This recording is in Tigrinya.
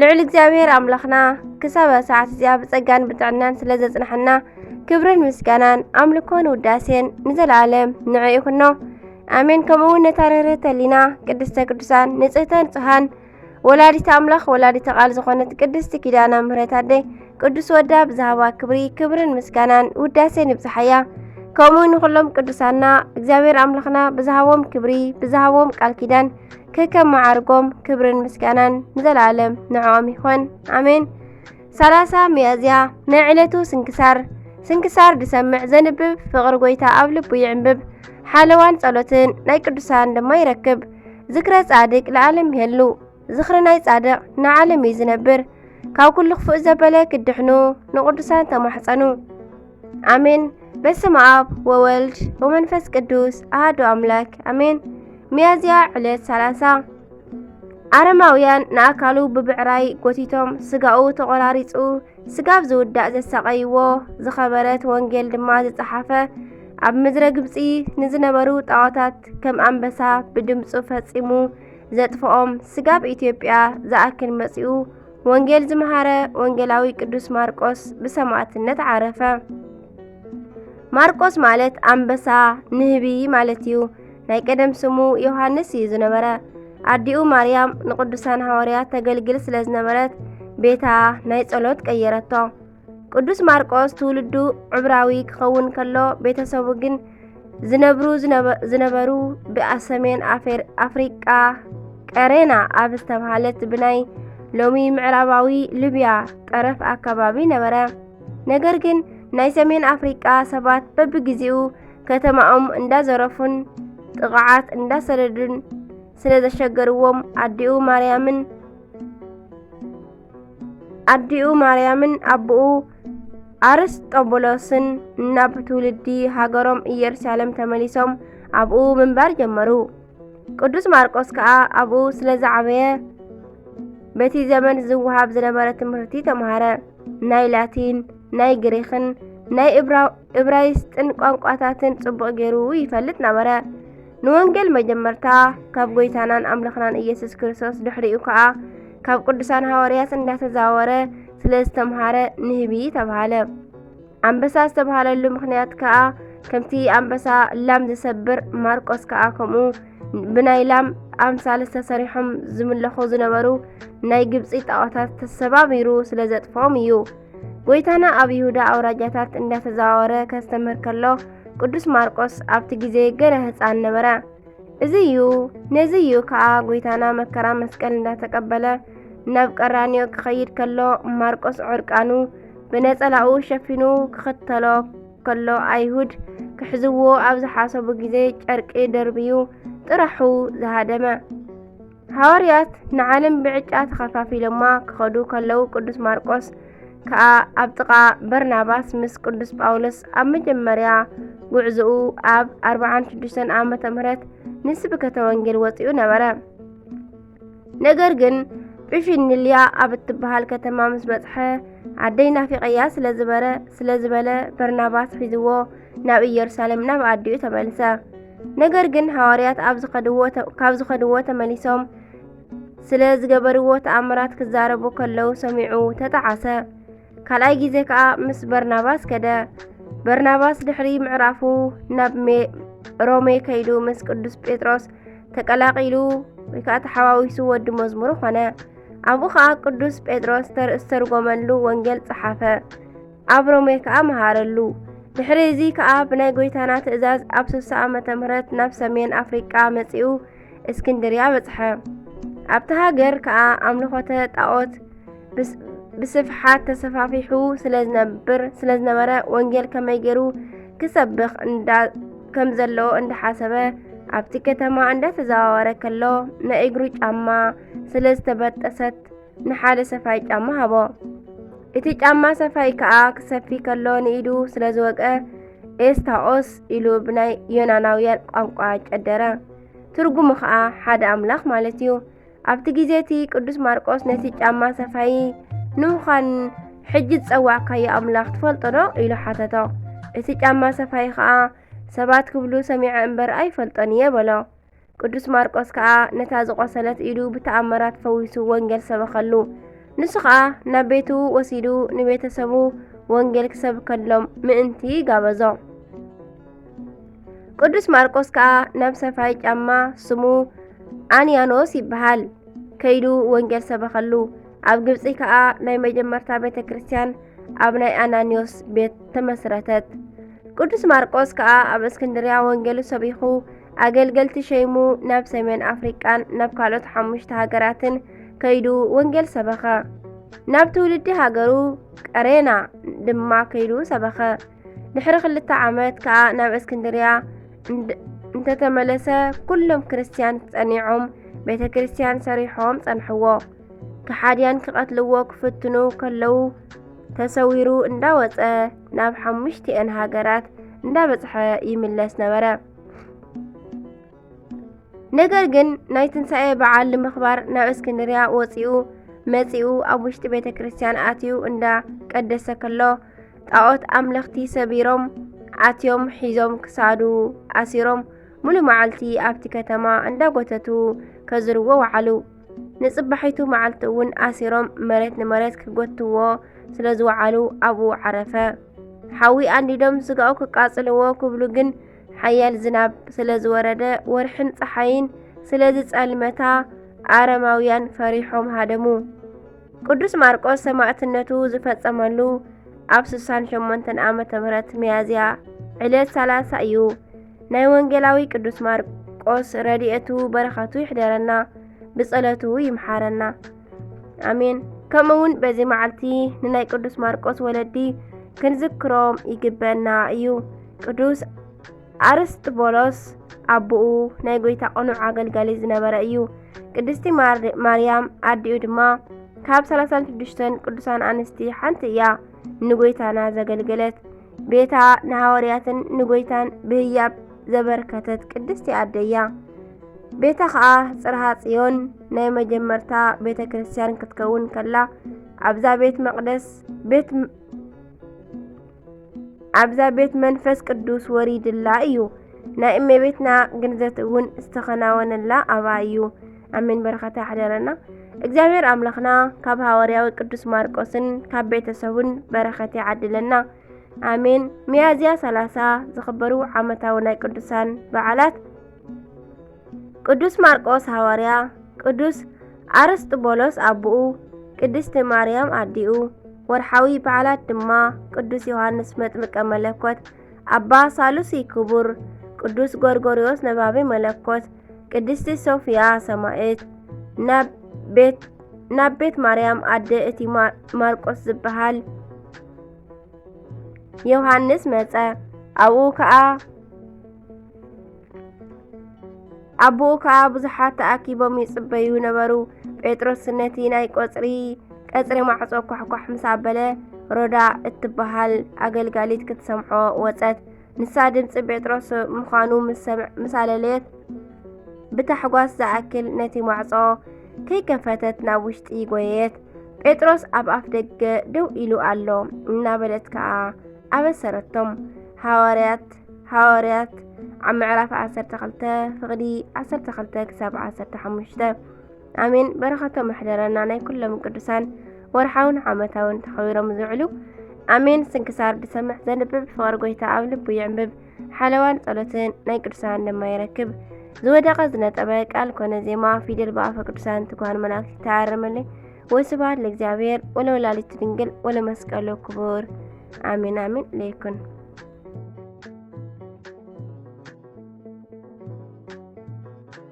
ልዑል እግዚኣብሔር ኣምላኽና ክሳብ ሰዓት እዚኣ ብጸጋን ብጥዕናን ስለ ዘጽናሕና ክብርን ምስጋናን ኣምልኮን ውዳሴን ንዘለኣለም ንዕ ይኹኖ ኣሜን። ከምኡውን ነታ ርህርህተ ሊና ቅድስተ ቅዱሳን ንጽህተ ንጹሃን ወላዲተ ኣምላኽ ወላዲተ ቃል ዝኾነት ቅድስቲ ኪዳና ምህረት ኣደ ቅዱስ ወዳ ብዝሃባ ክብሪ ክብርን ምስጋናን ውዳሴን ይብዝሓያ። ከምኡ ንኹሎም ቅዱሳና እግዚኣብሔር ኣምላኽና ብዝሃቦም ክብሪ ብዝሃቦም ቃል ኪዳን ከከም መዓርጎም ክብርን ምስጋናን ንዘለኣለም ንዕኦም ይኾን ኣሜን። ሰላሳ ሚያዝያ ናይ ዕለቱ ስንክሳር ስንክሳር ድሰምዕ ዘንብብ ፍቕሪ ጎይታ ኣብ ልቡ ይዕንብብ ሓለዋን ጸሎትን ናይ ቅዱሳን ድማ ይረክብ። ዝክረ ጻድቅ ለዓለም ይሄሉ ዝኽሪ ናይ ጻድቕ ንዓለም እዩ ዝነብር። ካብ ኩሉ ክፉእ ዘበለ ክድሕኑ ንቅዱሳን ተማሕጸኑ። ኣሜን። በስመ ኣብ ወወልድ ወመንፈስ ቅዱስ ኣህዱ ኣምላክ ኣሜን። ሚያዝያ ዕለት 30 ኣረማውያን ንኣካሉ ብብዕራይ ጎቲቶም ስጋኡ ተቖራሪጹ ስጋብ ዝውዳእ ዘሳቐይዎ ዝኸበረት ወንጌል ድማ ዝጸሓፈ ኣብ ምድረ ግብጺ ንዝነበሩ ጣዖታት ከም ኣንበሳ ብድምፁ ፈጺሙ ዘጥፍኦም ስጋብ ኢትዮጵያ ዝኣክል መጺኡ ወንጌል ዝመሃረ ወንጌላዊ ቅዱስ ማርቆስ ብሰማዕትነት ዓረፈ። ማርቆስ ማለት ኣንበሳ ንህቢ ማለት እዩ። ናይ ቀደም ስሙ ዮሃንስ እዩ ዝነበረ። ኣዲኡ ማርያም ንቅዱሳን ሃዋርያት ተገልግል ስለ ዝነበረት ቤታ ናይ ጸሎት ቀየረቶ። ቅዱስ ማርቆስ ትውልዱ ዕብራዊ ክኸውን ከሎ ቤተሰቡ ግን ዝነብሩ ዝነበሩ ብኣብ ሰሜን ኣፍሪቃ ቀሬና ኣብ ዝተብሃለት ብናይ ሎሚ ምዕራባዊ ሊብያ ጠረፍ ኣካባቢ ነበረ። ነገር ግን ናይ ሰሜን ኣፍሪቃ ሰባት በብግዜኡ ከተማኦም እንዳዘረፉን ጥቕዓት እንዳሰደዱን ስለ ዘሸገርዎም ኣዲኡ ማርያምን ኣዲኡ ማርያምን ኣቦኡ ኣርስጦቡሎስን ናብ ትውልዲ ሃገሮም ኢየሩሳሌም ተመሊሶም ኣብኡ ምንባር ጀመሩ። ቅዱስ ማርቆስ ከኣ ኣብኡ ስለ ዝዓበየ በቲ ዘመን ዝወሃብ ዝነበረ ትምህርቲ ተምሃረ። ናይ ላቲን፣ ናይ ግሪኽን ናይ እብራይስጥን ቋንቋታትን ጽቡቕ ገይሩ ይፈልጥ ነበረ። ንወንጌል መጀመርታ ካብ ጎይታናን ኣምላኽናን ኢየሱስ ክርስቶስ ድሕሪኡ ከዓ ካብ ቅዱሳን ሃዋርያት እንዳተዛወረ ስለ ዝተምሃረ ንህቢ ተባሃለ። ኣንበሳ ዝተባሃለሉ ምክንያት ከዓ ከምቲ ኣንበሳ ላም ዝሰብር ማርቆስ ከዓ ከምኡ ብናይ ላም ኣምሳል ዝተሰሪሖም ዝምለኹ ዝነበሩ ናይ ግብፂ ጣዖታት ተሰባቢሩ ስለ ዘጥፍኦም እዩ። ጎይታና ኣብ ይሁዳ ኣውራጃታት እንዳተዘዋወረ ከስተምህር ከሎ ቅዱስ ማርቆስ ኣብቲ ግዜ ገለ ህፃን ነበረ። እዚ እዩ ነዚ እዩ ከዓ ጎይታና መከራ መስቀል እንዳተቀበለ ናብ ቀራንዮ ክኸይድ ከሎ ማርቆስ ዕርቃኑ ብነጸላኡ ሸፊኑ ክኽተሎ ከሎ ኣይሁድ ክሕዝዎ ኣብ ዝሓሰቡ ግዜ ጨርቂ ደርብዩ ጥራሑ ዝሃደመ። ሃዋርያት ንዓለም ብዕጫ ተኸፋፊሎማ ክኸዱ ከለዉ ቅዱስ ማርቆስ ከኣ ኣብ ጥቓ በርናባስ ምስ ቅዱስ ጳውሎስ ኣብ መጀመርያ ጉዕዞኡ ኣብ 46 ዓመተ ምህረት ንስብከተ ወንጌል ወፂኡ ነበረ። ነገር ግን ጵፊንልያ ኣብ እትበሃል ከተማ ምስ በጽሐ ኣደይ ናፊቐያ ስለዝበረ ስለዝበለ በርናባስ ሒዝዎ ናብ ኢየሩሳሌም ናብ ኣዲኡ ተመልሰ። ነገር ግን ሃዋርያት ኣብ ዝኸድዎ ካብ ዝኸድዎ ተመሊሶም ስለ ዝገበርዎ ተኣምራት ክዛረቡ ከለዉ ሰሚዑ ተጠዓሰ። ካልኣይ ግዜ ከኣ ምስ በርናባስ ከደ። በርናባስ ድሕሪ ምዕራፉ ናብ ሮሜ ከይዱ ምስ ቅዱስ ጴጥሮስ ተቀላቂሉ ወይ ከዓ ተሓዋዊሱ ወዲ መዝሙሩ ኾነ። ኣብኡ ከዓ ቅዱስ ጴጥሮስ ዝተርጎመሉ ወንጌል ጸሓፈ። ኣብ ሮሜ ከኣ መሃረሉ። ድሕሪ እዚ ከኣ ብናይ ጐይታና ትእዛዝ ኣብ ስሳ ዓመተ ምህረት ናብ ሰሜን ኣፍሪቃ መጺኡ እስክንድርያ በጽሐ። ኣብቲ ሃገር ከኣ ኣምልኾተ ጣዖት ብስፍሓት ተሰፋፊሑ ስለ ዝነብር ስለ ዝነበረ ወንጌል ከመይ ገይሩ ክሰብኽ እንዳ ከም ዘለዎ እንዳሓሰበ ኣብቲ ከተማ እንዳተዘዋወረ ከሎ ናይ እግሩ ጫማ ስለ ዝተበጠሰት ንሓደ ሰፋይ ጫማ ሃቦ። እቲ ጫማ ሰፋይ ከኣ ክሰፊ ከሎ ንኢዱ ስለ ዝወቀ ኤስታኦስ ኢሉ ብናይ ዮናናውያን ቋንቋ ጨደረ። ትርጉሙ ኸኣ ሓደ ኣምላኽ ማለት እዩ። ኣብቲ ግዜ እቲ ቅዱስ ማርቆስ ነቲ ጫማ ሰፋይ ንውዃን ሕጂ ዝጸዋዕካዮ ኣምላኽ ትፈልጦ ዶ ኢሉ ሓተቶ። እቲ ጫማ ሰፋይ ኸኣ ሰባት ክብሉ ሰሚዐ እምበር ኣይፈልጦን እየ በሎ። ቅዱስ ማርቆስ ከኣ ነታ ዝቖሰለት ኢዱ ብተኣምራት ፈዊሱ ወንጌል ሰበኸሉ። ንሱ ኸኣ ናብ ቤቱ ወሲዱ ንቤተሰቡ ወንጌል ክሰብከሎም ምእንቲ ጋበዞ። ቅዱስ ማርቆስ ከኣ ናብ ሰፋይ ጫማ ስሙ ኣንያኖስ ይበሃል ከይዱ ወንጌል ሰበኸሉ። ኣብ ግብፂ ከኣ ናይ መጀመርታ ቤተ ክርስቲያን ኣብ ናይ ኣናንዮስ ቤት ተመስረተት። ቅዱስ ማርቆስ ከኣ ኣብ እስክንድርያ ወንጌሉ ሰቢኹ ኣገልገልቲ ሸይሙ ናብ ሰሜን ኣፍሪቃን ናብ ካልኦት ሓሙሽተ ሃገራትን ከይዱ ወንጌል ሰበኸ። ናብ ትውልዲ ሃገሩ ቀሬና ድማ ከይዱ ሰበኸ። ድሕሪ ክልተ ዓመት ከኣ ናብ እስክንድርያ እንተተመለሰ ኩሎም ክርስትያን ጸኒዖም ቤተ ክርስትያን ሰሪሖም ጸንሕዎ። ከሓድያን ክቐትልዎ ክፍትኑ ከለዉ ተሰዊሩ እንዳወጸ ናብ ሓሙሽቲኤን ሃገራት እንዳበጽሐ ይምለስ ነበረ። ነገር ግን ናይ ትንሣኤ በዓል ንምኽባር ናብ እስክንድርያ ወፂኡ መፂኡ ኣብ ውሽጢ ቤተ ክርስቲያን ኣትዩ እንዳ ቀደሰ ከሎ ጣዖት ኣምለኽቲ ሰቢሮም ኣትዮም ሒዞም ክሳዱ ኣሲሮም ሙሉ መዓልቲ ኣብቲ ከተማ እንዳጎተቱ ከዝርዎ ወዓሉ። ንጽባሒቱ መዓልቲ እውን ኣሲሮም መሬት ንመሬት ክጎትዎ ስለ ዝወዓሉ ኣብኡ ዓረፈ። ሓዊ ኣንዲዶም ስጋኡ ክቃጽልዎ ክብሉ ግን ሓያል ዝናብ ስለ ዝወረደ ወርሕን ፀሓይን ስለ ዝጸልመታ ኣረማውያን ፈሪሖም ሃደሙ። ቅዱስ ማርቆስ ሰማዕትነቱ ዝፈጸመሉ ኣብ 68 ዓመተ ምህረት ሚያዝያ ዕለት 30 እዩ። ናይ ወንጌላዊ ቅዱስ ማርቆስ ረድኤቱ በረኸቱ ይሕደረና፣ ብጸሎቱ ይምሓረና። ኣሜን። ከምኡ እውን በዚ መዓልቲ ንናይ ቅዱስ ማርቆስ ወለዲ ክንዝክሮም ይግበና እዩ። ቅዱስ ኣርስጥቦሎስ ኣቦኡ ናይ ጎይታ ቅኑዕ ኣገልጋሊ ዝነበረ እዩ። ቅድስቲ ማርያም ኣዲኡ ድማ ካብ 36 ቅዱሳን ኣንስቲ ሓንቲ እያ ንጎይታና ዘገልገለት። ቤታ ንሃዋርያትን ንጐይታን ብህያብ ዘበርከተት ቅድስቲ ኣደያ ቤታ ከዓ ጽርሃ ጽዮን ናይ መጀመርታ ቤተ ክርስቲያን ክትከውን ከላ ኣብዛ ቤት መቅደስ ቤት ኣብዛ ቤት መንፈስ ቅዱስ ወሪድላ እዩ ናይ እመቤትና ግንዘት እውን ዝተኸናወነላ ኣብኣ እዩ ኣሜን በረኸተ ያሕደረና እግዚኣብሔር ኣምላኽና ካብ ሃዋርያዊ ቅዱስ ማርቆስን ካብ ቤተሰቡን በረኸት ይዓድለና ኣሜን። ሚያዝያ 30 ዝኽበሩ ዓመታዊ ናይ ቅዱሳን በዓላት ቅዱስ ማርቆስ ሃዋርያ፣ ቅዱስ ኣርስጥቦሎስ ኣቦኡ፣ ቅድስቲ ማርያም ኣዲኡ። ወርሓዊ በዓላት ድማ ቅዱስ ዮሐንስ መጥምቀ መለኮት፣ ኣባ ሳሉሲ ክቡር፣ ቅዱስ ጎርጎርዮስ ነባቢ መለኮት ቅድስቲ ሶፍያ ሰማእት ናብ ቤት ናብ ቤት ማርያም ኣደ እቲ ማርቆስ ዝበሃል ዮሃንስ መጸ። ኣብኡ ከኣ ኣብኡ ከኣ ብዙሓት ተኣኪቦም ይጽበዩ ነበሩ። ጴጥሮስ ነቲ ናይ ቆጽሪ ቀጽሪ ማዕጾ ኳሕኳሕ ምስ ኣበለ ሮዳ እትበሃል ኣገልጋሊት ክትሰምዖ ወጸት። ንሳ ድምጺ ጴጥሮስ ምዃኑ ምስ ኣለለየት ብታሕጓስ ዝኣክል ነቲ ማዕጾ ከይከፈተት ናብ ውሽጢ ጎየየት። ጴጥሮስ ኣብ ኣፍ ደገ ደው ኢሉ ኣሎ እናበለት ከኣ ኣበሰረቶም። ሃዋርያት ሃዋርያት ኣብ ምዕራፍ 12 ፍቕዲ 12 ክሳብ 15 ኣሜን። በረኸቶም ኣሕደረና ናይ ኩሎም ቅዱሳን ወርሓውን ዓመታውን ተኸቢሮም ዝውዕሉ ኣሜን። ስንክሳር ድሰምዕ ዘንብብ ፍቕሪ ጎይታ ኣብ ልቡ ይዕምብብ ሓለዋን ጸሎትን ናይ ቅዱሳን ድማ ይረክብ። ዝወደቐ ዝነጠበ ቃል ኮነ ዜማ ፊደል ብኣፈ ቅዱሳን ትጓን መላእክት ይተኣረመለይ። ወስብሐት ለእግዚኣብሔር ወለወላዲቱ ድንግል ወለመስቀሉ ክቡር ኣሜን ኣሜን ለይኩን